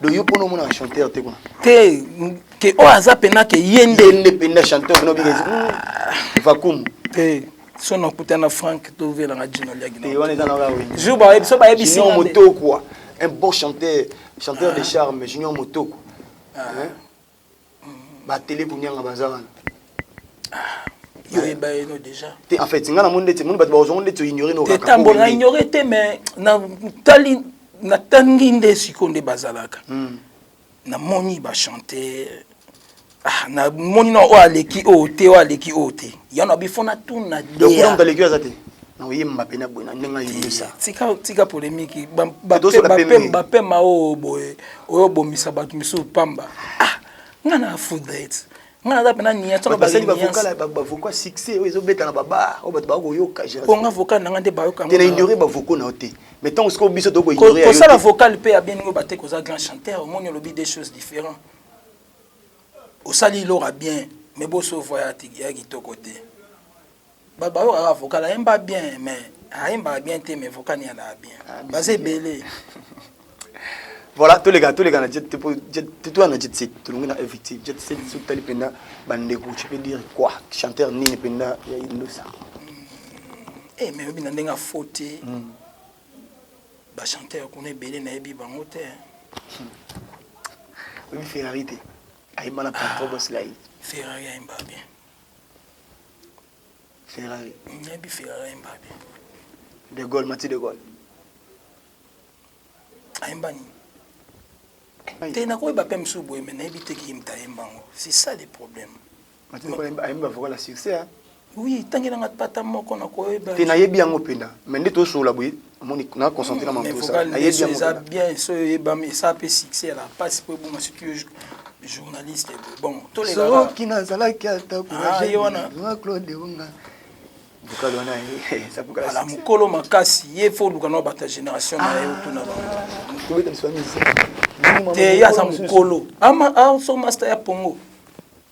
do yo pona omona chanteur te kuna te ke oyo aza pena ke ye nde ye nde pena chanteur no bigezi hmm. vacuum te so na kuta na Frank to vela na Gino Liagi te wana eza na wa wengi jour ba so ba yebisi na moto quoi un beau chanteur chanteur de charme Junior Motoko ah. hein ba tele bunyanga baza wana ah, yo yeba ye no déjà te en fait nga na monde te monde bato ba zongo ndeti ignorer no te tambo na ignorer te mais na tali na tangi nde siko nde bazalaka hmm. na moni ba chanter ah na moni na o aleki o te o aleki o te yana bifona tuna de donc aleki aza te na oyemba mpe na boye na ndenge ayembisa tika tika polemiki bapema oyo boye oyo obomisa bato misusu pamba ah nga na afuda ete nga naza mpe na niasbasali bavoka succès oyo ezobeta na babar oyo bato baa koyoka mpo nga vocal na nga nde bayokana ignore bavoko na yo te mais ntango sikoyo biso tokosala vocal mpe ya bieningo bate koza grand chanteur omoni olobi des choses différent osali ilora bien mais boso voya ya kitoko te ba ba oyo avocat la yemba bien mais ayemba bien te mais vocal ya la bien ah, baza ebele voilà tous les gars tous les gars na jet pour jet tout na jet set tout le monde a victime jet set sous tali penda bande ko tu peux dire quoi chanteur ni penda ya indosa hmm. eh mais obi na ndenga faute hmm. ba chanteur kuna ebele na yebi bango te hmm. obi ferrari te ayemba na patron boss lai ferrari ayemba bien Ferrari. Nayebi Ferrari ayemba wapi? De Gaulle, Mati de Gaulle. Ayemba nini? Te nakoyeba mpe mosusu boye me nayebi te kiyembi tayemba yango. C'est ça le problème. Mati de Gaulle ayemba vocal ya succès. Oui, tangelanga pata moko nakoyeba. Te nayebi yango mpenza. Mais nde tosola boye. omoni na concentre na mamposa ayebi yango eza bien so oyebami esa mpe succès ya la pasi mpo ebonga surtout yo journaliste bon tolesoki nazalaki ata courage wana claude onga bokali wana ala mokolo makasi ye fo oluka na bato ya génération na ye otuna bango te ye aza mokolo aso masta ya pongo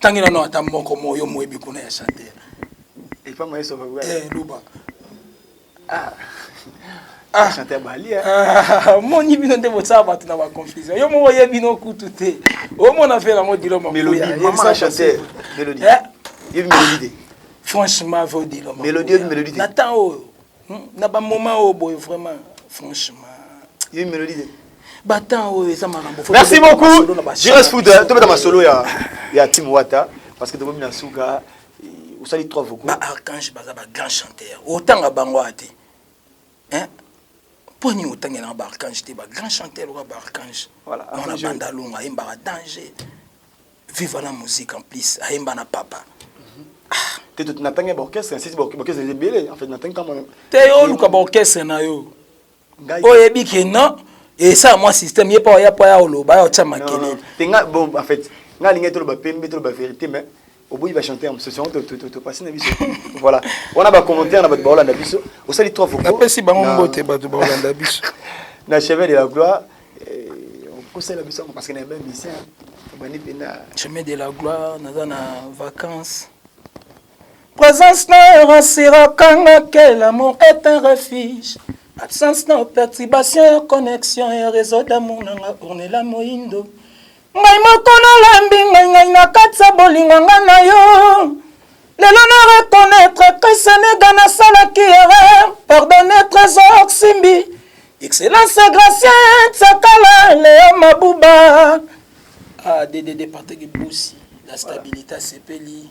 Tangi na no ata moko mo yo moyebi kuna ya chanteur. Et pas moi ça va. Eh Luba. Ah. Ah, chanteur Bali. Hein? Ah, mon ibino nde botsa batu na ba confusion. Yo mo yebi no kutu te. O mo na fela mo dilo mo. Mélodie, maman la chanteur. Mélodie. Eh? Yebi mélodie. Franchement, vodilo. Mélodie, mélodie. Nathan oyo. Hum, na ba moment oyo boye vraiment franchement. Yo melodi de. Ba temps oyo eza makambo. Merci beaucoup. Jires foot tobeta masolo ya ya Tim Wata parce que tokomi na suka osali trois vocaux. Ba archange baza ba grand chanteur. Otanga bango ate. Hein? mpo nini otangelaka baarkange te bagrand chanteur lokola baarkange mwana bandalonga ayembaka danger Viva la musique en plus ayemba na papa. Te to natangi ba orchestre, nsi ba orchestre ebele en fait natangi kama. Te yo luka ba orchestre na yo. Oyebi ke non esa mwa système ye pa oya pa ya oloba ya otya makelele. Te nga bon en fait nga lingi toloba pembe toloba vérité mais oboyi ba chanteur mosusu yango topasi na biso voilà wana ba commentaire na bato baolanda biso osali trois vocaux napesi bango mbote bato baolanda biso na chevet de la gloire okosala biso yango parce que na yeba mission obandi mpenza chemin de la gloire naza na vacances présence na yo rassuraka nga que l'amour est un refuge absence na perturbation ya connexion ya réseau d'amour na nga ornela moindo Ngai moko nalembi ngai ngai na kati ya bolingo ngai na yo lelo na reconnaître que senega nasalaki erreur pardonne trésor simbi excellence gracien tsakala leo mabuba ah, de de de partage bosi la stabilité asepeli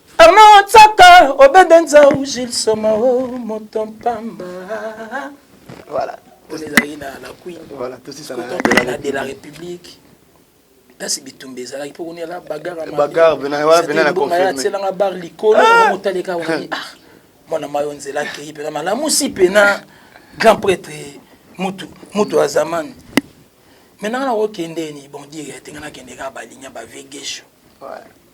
Armand Otsaka, Obede Nzau, Gilles Soma, oh, moto mpamba. Voilà. On est allé na la Queen. Voilà, tout ça. De la République. kasi bitumba ezalaki mpo koniala bagare aselanga bar likolo ah! motaleka wani ah, mwana mayo nzela akei mpena malamusi mpena grand prêtre mutu mutu ya zamani maintenant nakokendeni bon dire te nga nakendeka balinya bavegesho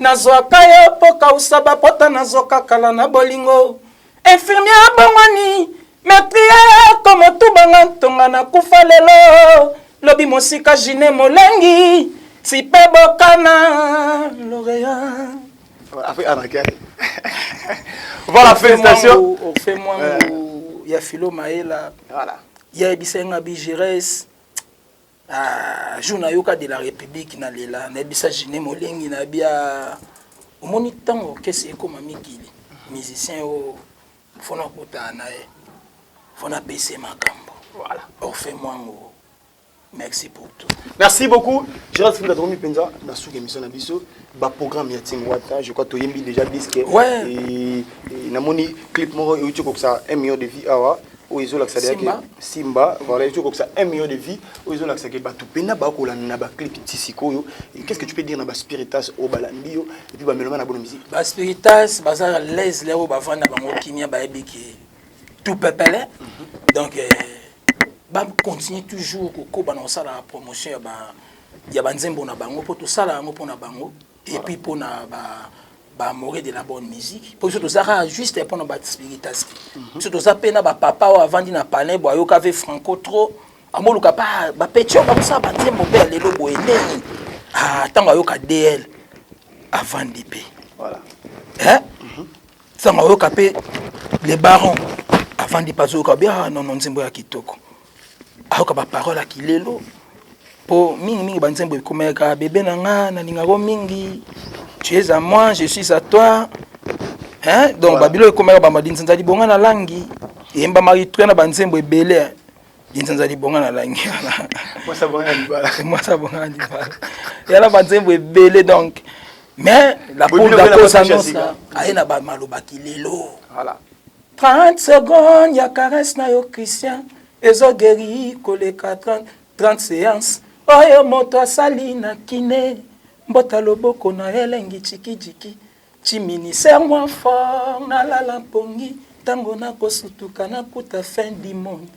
Nazwaka yo po kausa ba pota nazo kakala na bolingo infirmier abongwani me priere ko motuba nga ntonga na kufa lelo lobi mosika jine molengi tipe bokana loreya voilà félicitations fait moi ya filo maela voilà ya ebisa nga bigiresse Ah, jour nayoka de la République na lela nayebisa Gene Molengi na bia omoni ntango orchestre ekoma mikili musicien oyo fona okutana na ye fona apesa ye makambo voilà. orfe mwango merci pour tout merci beaucoup gerard fika tokomi mpenza na suka émission na biso baprogramme ya tim wata je crois toyembi déjà disque ouais. namoni clip moko euti kokisa un million de vie awa oyo ezolakisa deke simba voilà ezo kokisa 1 million de vie oyo ezolakisa ke bato mpena bakolanda na baclip ti sikoyo qu'est ce que tu peux dire na baspiritas oyo balandi yo epuis bameloma na bono musike baspiritas baza laise leo bavanda bango kimia bayebi ke tout pepele mhm. donc eh, bacontinue toujours kokoba na kosalaka promotion ya ba ya banzembo na bango mpo tosala yango mpo na bango et puis mpo na ba baamoureux de la bonne musique mpo biso toza kaka juste mpo na baspiritaski biso toza mpe na bapapa oyo avandi na palin bo ayoka ve franco trop amoluka pa bapetio bakosala banzembo mpe ya lelo boye ndeni ntango ayoka dl avandi mpe ntango ayoka mpe le baron avandi mpe azoyoka be ah nono nzembo ya kitoko ayoka ba parole ya kilelo po mingi mingi ba nzembo ekomeka bebe na nga nalingako mingi tu es à moi je suis à toi hein donc voilà. babilo ekomeka ba madinzanza libonga na langi eyembamaki tuya na ba nzembo ebele dinzanza libonga na langi mwasa bonga libala mwasa bonga na libala yala ba nzembo ebele donc mais la pour la cause annonce aye na ba maloba kilelo voilà 30 secondes ya caresse na yo Christian ezo guéri koleka 30, 30 séances oyo moto asali na kine mbota loboko na elengi chikijiki chimini ser mwa fort nalala mpongi ntango nakosutuka nakuta fin du monde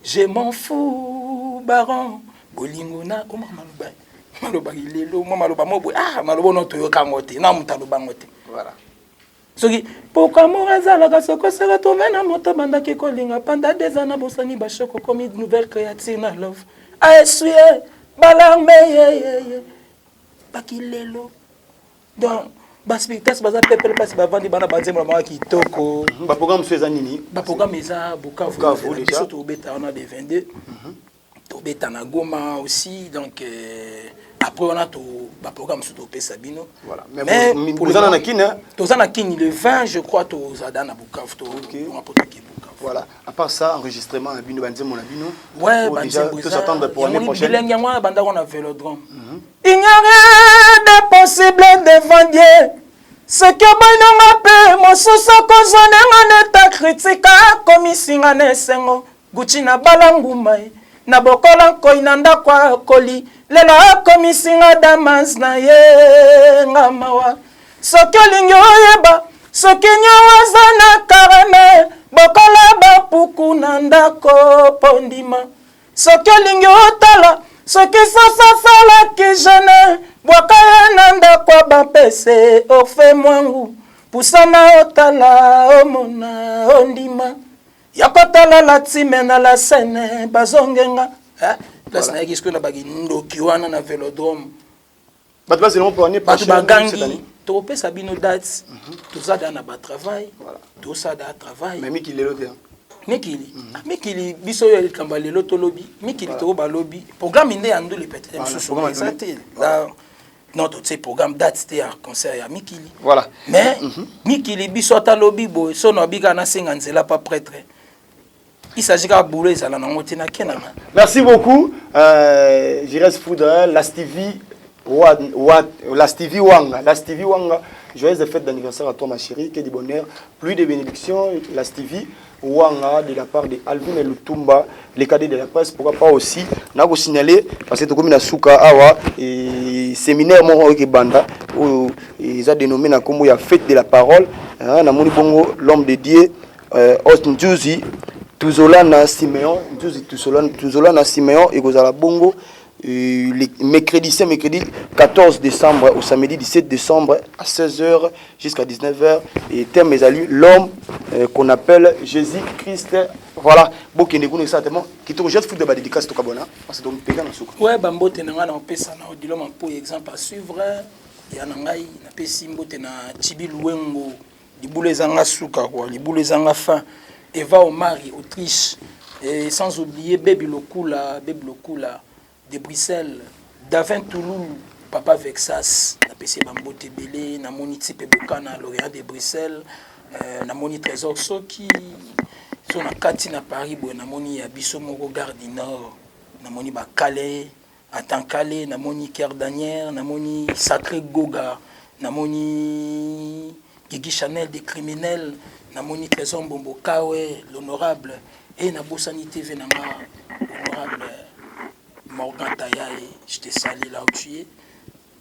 je m'en fous baron bolingo na koma maloba maloba lelo mwa maloba mobwe ah maloba ono toyokango te na moto alobango te voilà soki pourquoi amour ezalaka sokosaka trouve na moto bandaki kolinga panda deza na bosani bashoko komi nouvelle créature na love aesue ah, eh, balarme yeyeye baki lelo donc baspiritas baza pepele mpasi bavandi bana banzembo na bango kitoko baprograme mosusu eza nini baprograme eza bukavu biso tobeta wana de 22 tobeta na goma aussi donc euh, après wana to ba programme mosusu topesa bino Voilà. Mais Mais bo- pour le bozala na moment, kin hein? toza na kini le 20 je crois tozada na bukavu to Okay. bonga mpo toke bukavu voilà à part ça enregistrement na bino banzembo na bino Ouais, Oyo déjà, banzembo eza- tous attendre pour yango année ni prochaine bilingue yango wana bandako wana na velodrome il n'y a rien de possible devant dieu soki oboinonga mpe mosusu akozwa ndenga neta kritika komisinga na esengo Gucci na bala nguma eh. Na bokola nkoyi na ndako akoli Lelo akomisi nga damas na ye nga mawa Soki olingi oyeba soki niongo aza na karame Bokola bapuku na ndako po ndima Soki olingi otala soki sasa salaki jene bwaka ye na ndako ya bampese ofe mwangu pusana otala omona ondima ya kotala la time na la scène bazongenga eh, place nayaki sikoyo na bakindoki wana na velodrome bato bazela mpo ane bato bagangi tokopesa bino date mhm. toza da na batravail tosala da travail mais miki lelo te mikili mhm. ah, mikili biso oyo likambo ya lelo tolobi mikili toko balobi programme nde ya ndule peut-être mosusu eza te non totie programme date te ya concert ya mikili voilà mais mm -hmm. mikili biso ata lobi boye sono abika nasenga nzela pa prêtre il s'agit kaka boulot ezala nango te nakenanga merci beaucoup euh, jires foudre lastivi wa, wa, lastivi wanga lastivi wanga joyeuse fête d'anniversaire à toi ma chérie que du bonheur plus de bénédictions lastivi Wanga de la part de Alvin Lutumba, les cadets de la presse, pourquoi pas aussi na ko signaler parce que tokomi na suka awa et séminaire moko oyo banda oyo eza dénommé na kombo ya fête de la parole hein, na moni bongo l'homme de Dieu euh, Host Njuzi Tuzolana Simeon Njuzi Tuzolana Simeon ekozala bongo Euh, le mercredi, c'est mercredi 14 décembre au samedi 17 décembre à 16h jusqu'à 19h. Et thème est allé l'homme euh, qu'on appelle Jésus-Christ. Voilà, bokende kuna exactement. Kitoko juste foot de ba dédicace to kabona parce que donc pega na suka. Ouais, ba mbote na ngana opesa na odilo ma pour exemple à suivre ya na ngai na pesi mbote na Chibi Luengo. libula ezanga suka quoi libula ezanga fin eva omari autriche et sans oublier baby lokula baby lokula de bruxelles davin touloul papa vexas napesi ye bambote ebele namoni tipe bokana l'orient de bruxelles euh, namoni trésor soki so na kati na paris boye namoni ya biso moko gare du nord namoni bakale Atankale, namoni Ker Daniel, namoni Sacre Goga, namoni Gigi Chanel des criminels, namoni Trésor Mbombo Kawe, l'honorable et eh, nabosani TV na nga honorable Morgan Tayaye, je te salue là où tu es.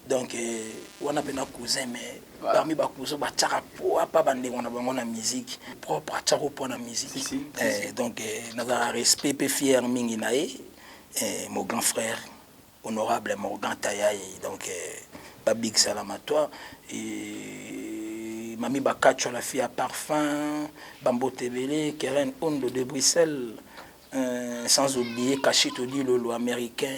donc euh, wana pena cousin mais voilà. parmi ba cousin ba tchaka po apa ba ndeko na bango na musique propre a tchako po na musique si, si, eh, si. donc eh, na za respect pe fier mingi na ye eh, mon grand frère honorable Morgan Tayaye donc eh, ba big salam à toi et mami Bakacho la fille à parfum Bambo Tebele Keren Ondo de Bruxelles euh, sans oublier Kashito Dilolo américain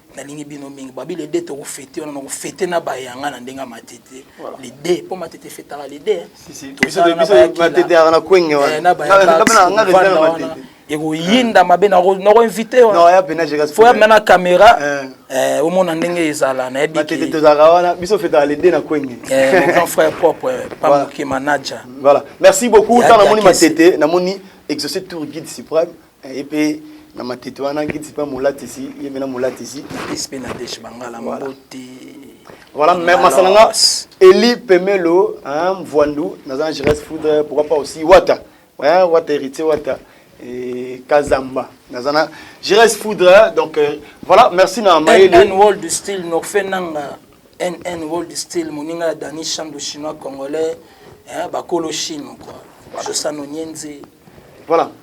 nalingi bino mingi babi le deux tokofete wana nakofete na bayanga na ndenge ya matete le deux mpo matete efetaka le deux ekoyinda mabe nakoinvite fo yamna na caméra eh. Eh, omona ndenge ezala nayebigand frère propre eh, pamoke manager merci beaucoup ntango namoni matete namoni exauce tour guide suprême Ye mpe na matete wana nkiti mpe molatisi ye mpe na molatisi sp na deche bangala mbote voilà mais masala nga eli pemelo hein mvwandu naza na jeunesse foudre pourquoi pas aussi wata hein wata héritier wata et kazamba naza na jeunesse foudre donc euh, voilà merci na mayele world style norfe nanga nn world style moninga ya dani chando chinois congolais hein bakolo chine quoi josano nyenze voilà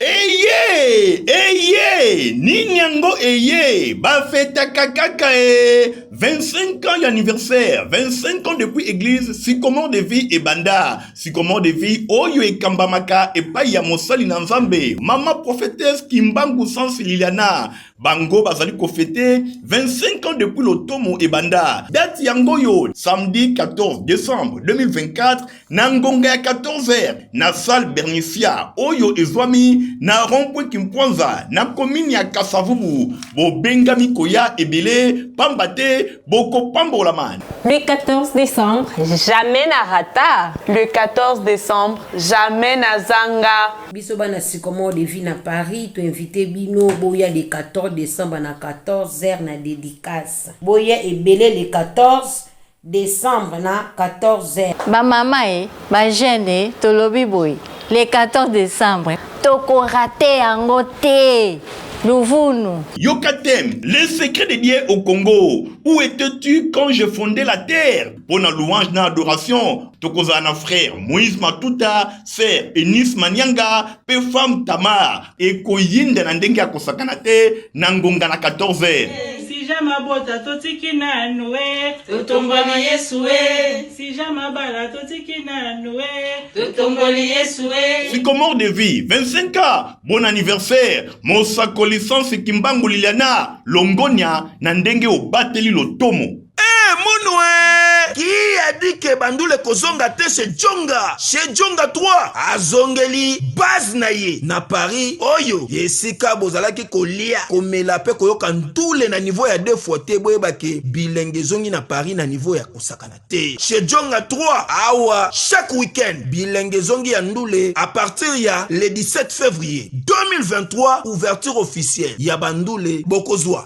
eye eye nini yango eye bafetaka kaka e 25 ans d'anniversaire 25 ans depuis église sycomore de vie ebanda sycomore de vie oyo ekambamaka epai ya mosali na nzambe mama prophétesse kimbangu sans liliana bango bazali kofete 25 ans depuis lotomo ebanda dati yango oyo samedi 14 décembre 2024 na ngonga ya 14h na salle bernicia oyo ezwami na rompwe kimpwanza na komini ya kasavubu bobengami koya ebele pamba te Le 14 décembre, jamais na rata. Le 14 décembre, jamais na zanga. Biso bana sycomore de vie na Paris, tu invité bino boya le 14 décembre na 14 heures na dédicace. Boya ebele le 14 décembre na 14 heures. Ba mama e, eh, Ba jeune tolobi boye le 14 decembre toko rate yango te luvunu. Yoka thème, les secrets de Dieu au Congo, où etais tu quand je fondais la terre? Pona louange na adoration tokozala na frère Moïse Matuta, sœur Eunice Manianga, mpe femme tamar ekoyinda na ndenge ya kosakana te na ngonga na 14 heures sija mabota totiki nanu e totomboli yesu e sija mabala totiki nanu e totomboli yesu e sycomore de vie 25 ans bon anniversaire mosakoli sansi kimbangu liliana longonya na ndenge obateli lotomo Eh, Munwe! Qui a dit que Bandule kozonga te chez Djonga? Chez Djonga 3 azongeli base na ye na Paris oyo esika bozalaki kolia komela pe koyoka ntule na niveau ya deux fois te boyeba ke bilenge ezongi na Paris na niveau ya kosakana te. Chez Djonga 3 awa chaque week-end bilenge ezongi ya ndule à partir ya le 17 février 2023 ouverture officielle ya Bandule bokozwa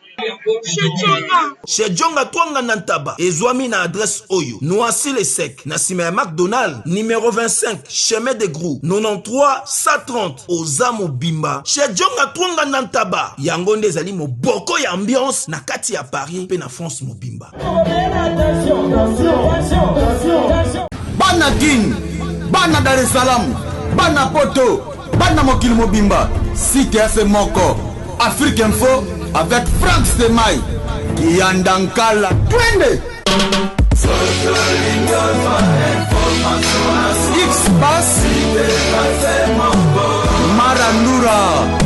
Chez Djonga Twanga na Ntaba ezwami na adresse oyo Noisy le sec na sima ya McDonald numero 25 chemin de Grou 93 130 oza mobimba chez Djonga Twanga na Ntaba yango nde ezali moboko ya ambiance na kati ya Paris mpe na France mobimba. Bana Kin, bana Dar es Salaam, bana Poto, bana mokili mobimba, site efe moko, Afrique Info avec Frank Stemay, Kiyanda Nkala, twende! X-Bass, Marandura,